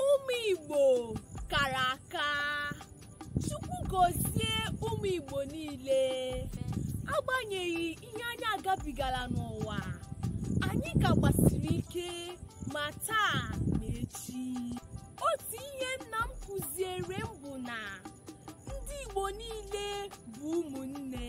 ụmụ igbo kara aka chukwu gọzie ụmụ igbo niile agbanyeghị ihe anyị agabigala n'ụwa anyị ka gbasiri ike ma taa ma echi otu ihe nna m kụziere m bụ na ndị igbo niile bụ ụmụnne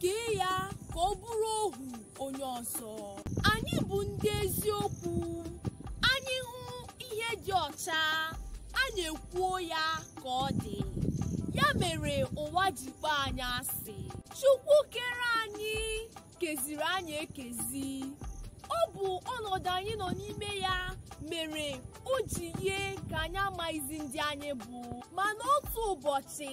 kee ya ka ọ bụrụ ohu onye ọzọ anyị bụ ndị eziokwu anyị hụ ihe dị ọcha anyị ekwuo ya ka ọ dị ya mere ụwa ji kpọ anyị asị chukwu kere anyị keziri anyị ekezi ọ bụ ọnọdụ anyị nọ n'ime ya mere o ji yie ka anyị amaghịzi ndị anyị bụ mana otu ụbọchị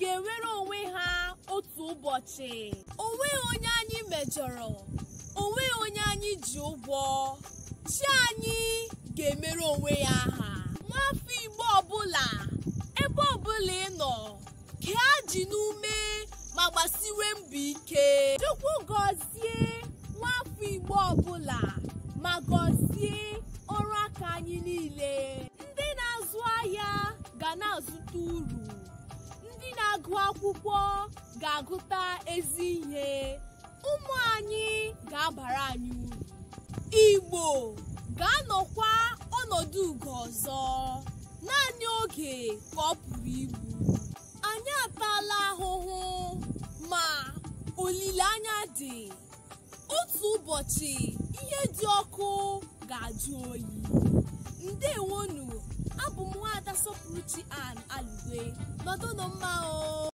ga-enwere onwe ha otu ụbọchị o nweghị onye anyị mejọrọ o nweghị onye anyị ji ụgwọ chi anyị ga-emere onwe ya aha nwafọ igbo ọbụla ebe ọbụla ị nọ kee ajị n'ume ma gbasiwe mbọ ike chukwu gọzie nwafọ igbo ọbụla ma gọzie ọrụ aka anyị niile ndị na-azụ ahịa ga na-azụta uru ndị na-agụ akwụkwọ ga-agụta ezi ihe ụmụ anyị ga-abara anyị uru igbo ga-anọkwa ọnọdụ ugo ọzọ naanị oge ka ọ pụrụ igbu anyị ataala ahụhụ ma olileanya dị otu ụbọchị ihe dị ọkụ ga-ajụ oyi ndewonu abụ m nwaada sọpụrụchi ann alugwe nọdụnụ mma o